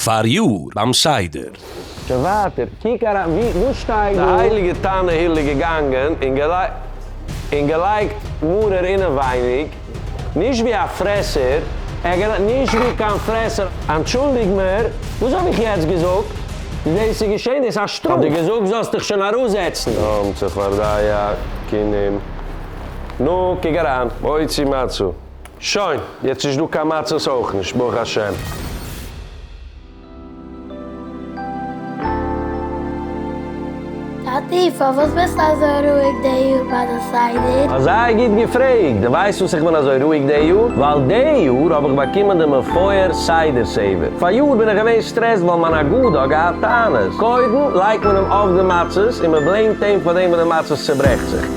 פאריאר ביים סדר. שוין ווייטער, קוק אריין ווי, וואס שטייט דא? די הייליגע תנא הילל איז געגאנגען און און געלייגט מרור אינעווייניג, נישט ווי א פרעסער, ער האט געלייגט נישט ווי קיין פרעסער. אנטשולדיג מיר, וואס האב איך יעצט געזאגט? דאס איז געשען, דאס איז א שטראף. האט דיר געזאגט זאלסט דיך שוין אראפזעצן. נאם צפרדיה כינים, נו קוק אריין. מוציא מצה. שוין, יעצט נישט דא קיין מצות אויך נישט, ברוך השם. טאטי, פארוואס ביסטו אזוי רואיג די יאר ביי די סדר? אזא גוט געפרעגט! די ווייסט וואס איך בין אזוי רואיג די יאר? ווייל די יאר האב איך באקומען די מפואר סדר סעווער. פאריאר בין איך געווען סטרעסט ווייל מיין אגודה האט געהאט טענות. קודם לייגט מען אים אויף די מצות און מען בלעימט אים פאר דעם וואס די מצות צוברעכט זיך.